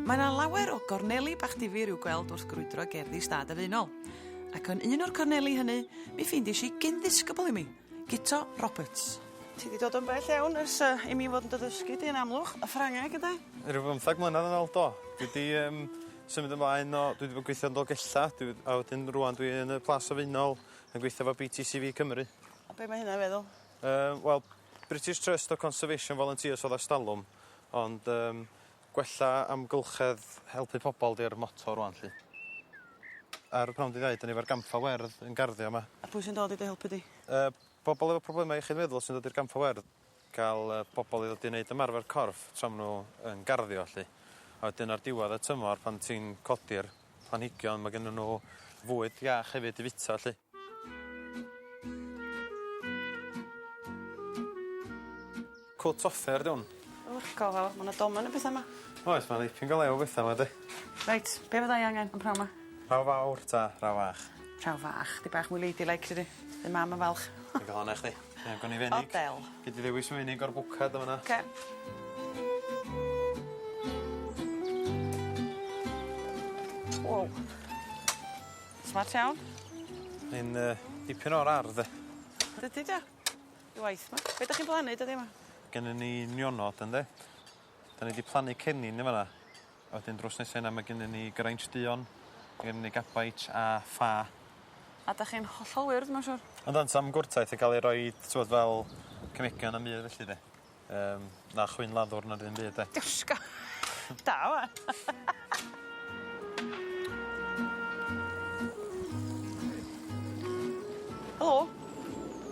Mae yna lawer o gorneli bach difyr i'w gweld wrth grwydro gerddi stad y Faenol. Ac yn un o'r corneli hynny, mi ffeindies i gyn ddisgybl i mi, Guto Roberts. Ti wedi dod yn bell iawn ers uh, i mi fod yn dy ddysgu di yn amlwch, y Ffrangeg ydw? Rhyw bymthag mlynedd yn ôl, do. Dwi wedi um, Symud ymlaen o dwi 'di bod gweithio yn Dolgella dwi a wedyn rŵan dwi yn y Plas Sylfaenol yn gweithio efo Bee Tee See Vee Cymru. A be' ma' hynna feddwl? Yy wel British Trust o Conservation Volunteers odd erstalwm ond yym gwella amgylchedd helpu pobol 'di'r moto rŵan 'lly. Ar y pnawn 'di ddeud o'n i efo'r gampfa werdd yn garddio 'ma. A pwy sy'n dod i dy helpu di? Yy pobol efo problema iechyd meddwl sy'n dod i'r gampfa werdd. Gall y pobl i ddod i neud ymarfer corff tra ma' nhw yn garddio 'lly. A wedyn ar diwedd y tymor pan ti'n codi'r planhigion ma' gynnyn nhw fwyd iach hefyd i fita 'lly. Cwt offer 'di 'wn. O go fawr ma' 'na domen o betha 'ma. Oes ma' 'na ipyn go lew o betha 'ma 'di. Reit be' fyddai angen yn pnawn 'ma? Rhaw fawr ta rhaw fach? Rhaw fach. 'Dig bach mwy lady like dydi? By' mam yn falch. Digon o' chdi. Ie gawn ni fenig. O del. Gei di ddewis menig o'r bwced yn fan 'na. Oce. Wow. Smart iawn. Mae'n yy dipyn o'r ardd 'de? Dydi do? Dy waith 'ma. Be' 'dach chi'n blannu dyddie 'ma? Gennon ni nionod ynde? 'Dan ni 'di plannu cennin yn fan 'na. A wedyn drws nesa yna ma' gennyn ni Geraint Duon ma' gennyn ni Gabeit a Ffa. A 'dach chi'n hollol wir dwi myn' siŵr. Yndw sam gwrtaith yn ca'l ei roid t'wod fel cemegion na'm byd felly 'de. Yym na chwyn laddwr na ddim byd 'de? Dysga! Da ŵan. Helo.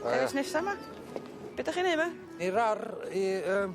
Haia. Dewis nesa 'ma. Be' 'dach chi'n neu' 'ma? Ni rar i yym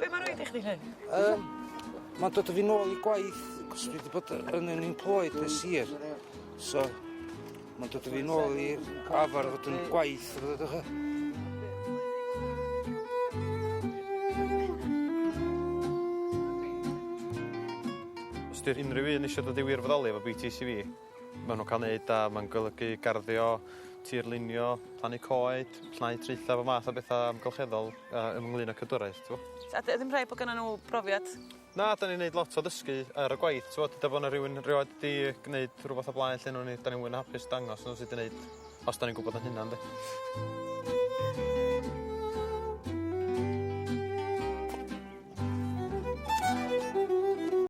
Be' ma' raid i chdi 'lly? Yym ma'n dod â fi nôl i gwaith cos dwi 'di bod yy yn unemployed ers hir so ma'n dod â fi nôl i arfar fod yn gwaith a petha dy'ch e? Os 'di'r unryw un isio dod i wirfoddoli efo Bee Tee See Vee Ma' nw'n ca'l neud a ma'n golygu garddio tirlunio plannu coed llnau traetha bob math o betha amgylcheddol yy ynglŷn â cadwraeth t'wo'. A 'dy- a ddim rhaid bo' gynnon n'w brofiad? Na 'dan ni'n neud lot o ddysgu ar y gwaith t'wod deda bo' 'na rywun rioed 'di gneud rwbath o blaen lle newn ni 'dan ni mwy na hapus dangos n'w sud i neud os 'dan ni'n gwbod 'yn hunan 'de?